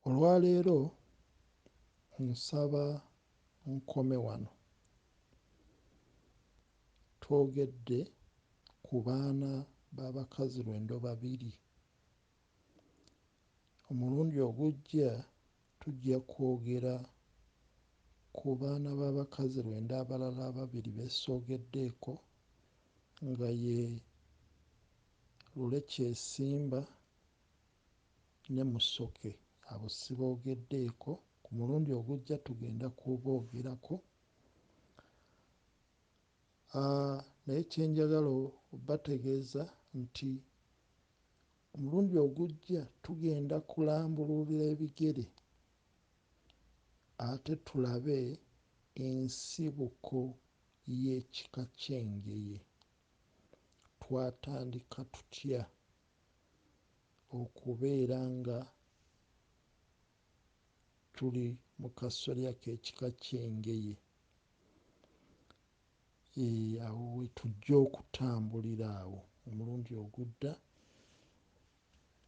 Olwaleero nsaba nkome wano. Twogedde ku baana b'abakazi lwendo babiri. Omulundi ogujja tujja kwogera ku baana b'abakazi lwendo abalala ababiri be soogeddeeko nga ye Lule Kyesimba ne Musoke abo sibogeddeeko, ku mulundi ogujja tugenda kuboogerako naye kye njagala obategeeza nti omulundi ogujja tugenda kulambululira ebigere ate tulabe ensibuko y'ekika ky'Engeye, twatandika tutya okubeera nga tuli mu kasolya k'ekika ky'Engeye, awo we tujja okutambulira awo omulundi ogudda.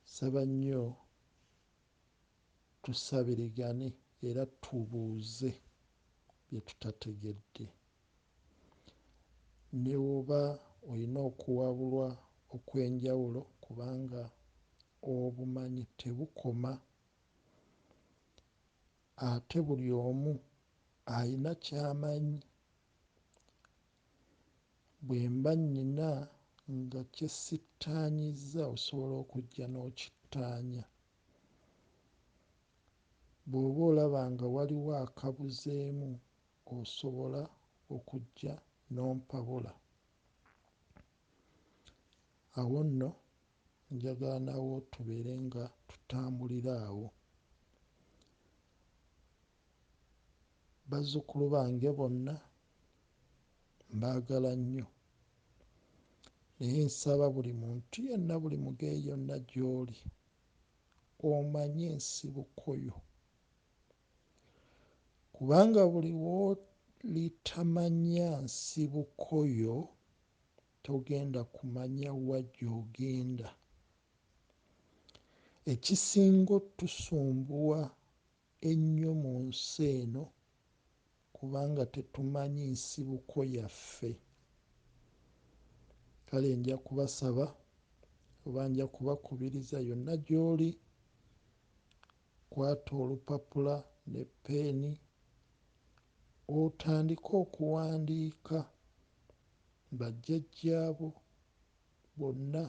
Nsaba nnyo tusabirigane era tubuuze bye tutategedde. Ne bw'oba olina okuwabulwa okw'enjawulo kubanga obumanyi tebukoma ate buli omu alina ky'amanyi. Bwe mba nnina nga kye sittaanyizza osobola okujja n'okittaanya. Bw'oba olaba nga waliwo akabuzeemu osobola okujja n'ompabula. Awo nno njagala nawo tubeere nga tutambulira awo. Bazzukulu bange bonna mbaagala nnyo. Naye nsaba buli muntu yenna, buli mugeeyi yonna gy'oli, omanye ensibuko yo. kubanga buli w'olitamanya nsibuko yo togenda kumanya wa gy'ogenda. Ekisinga otusumbuwa ennyo mu nsi eno kubanga tetumanyi nsibuko yaffe. Kale nja kubasaba oba nja kubakubiriza yonna gy'oli Kwata olupapula ne ppeeni otandike okuwandiika bajjajjaabo bonna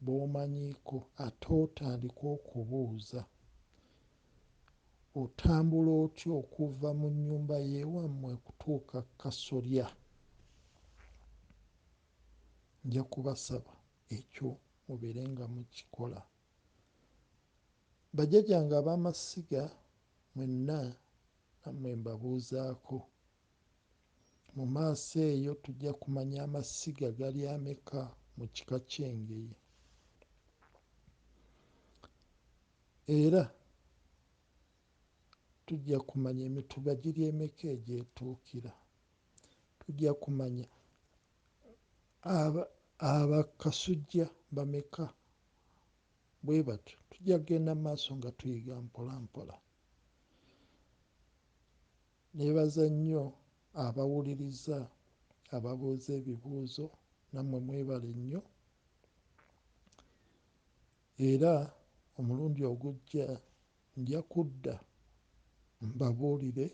b'omanyiiko ate otandike okubuuza, Otambula otya okuva mu nnyumba y'ewammwe okutuuka ku kasolya? Nja kubasaba ekyo mubeere nga mukikola. Bajjajange ab'amasiga mwenna nammwe mbabuuzaako. Mu maaso eyo tujja kumanya amasiga gali ameka mu kika ky'Engeye. Era tujja kumanya emituba giri emeka egy'etuukira. Tujja kumanya Aba aba Kasujja bameka? Bwe batyo tujja kugenda mu maaso nga tuyiga mpola mpola. Neebaza nnyo abawuliriza, ababuuza ebibuuzo, nammwe mwebale nnyo. Era omulundi ogujja Nja kudda mbabuulire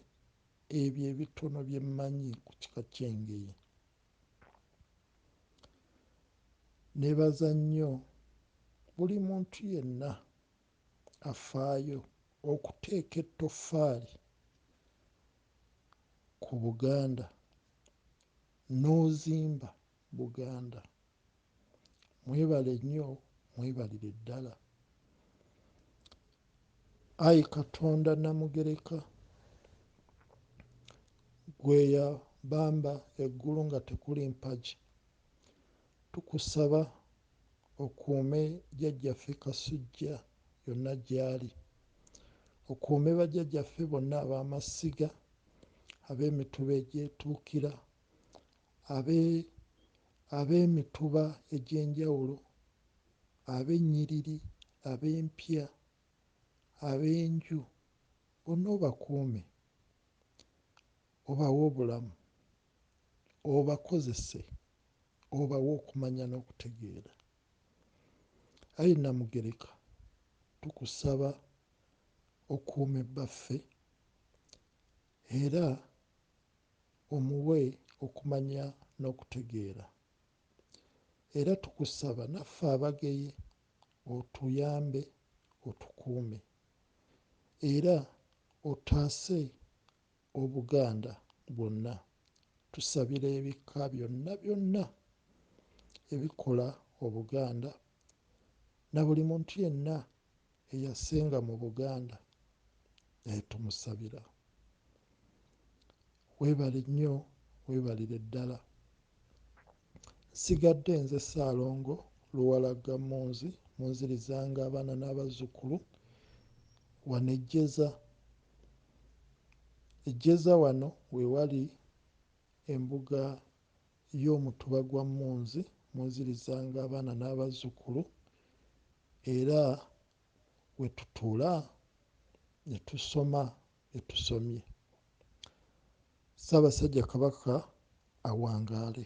ebyo ebitono bye mmanyi ku kika ky'Engeye. Nneebaza nnyo buli muntu yenna afaayo okuteeka ettoffaali ku Buganda n'ozimba Buganda. Mwebale nnyo mwebalire ddala. Ayi Katonda Namugereka, gwe eyabamba eggulu nga tekuli mpagi, tukusaba okuume Jjajjaffe Kasujja yonna gy'ali, okuume bajjajjaffe bonna ab'amasiga, ab'emituba egyetuukira, abe ab'emituba egy'enjawulo, ab'ennyiriri, ab'empya, ab'enju, bonna obakuume, obawe obulamu, obakozese, obawe okumanya n'okutegeera. Ayi Nnamugereka, tukusaba okuume Bbaffe era omuwe okumanya n'okutegeera era tukusaba naffe abageye otuyambe otukuume era otaase Obuganda bwonna tusabira ebika byonna byonna ebikola Obuganda nabuli muntu yenna eyasinga mu Buganda naye tumusabira webale nnyo webalire ddala nsigadde nze Ssaalongo Luwalagga Munzi munzirizanga abaana n'abazzukulu wano e Jjeza e Jjeza wano wewali embuga Ye Omutuba gwa Munzi munzirizanga abaana n'abazzukulu era we tutuula ne tusoma bye tusomye. Ssaabasajja Kabaka awangaale.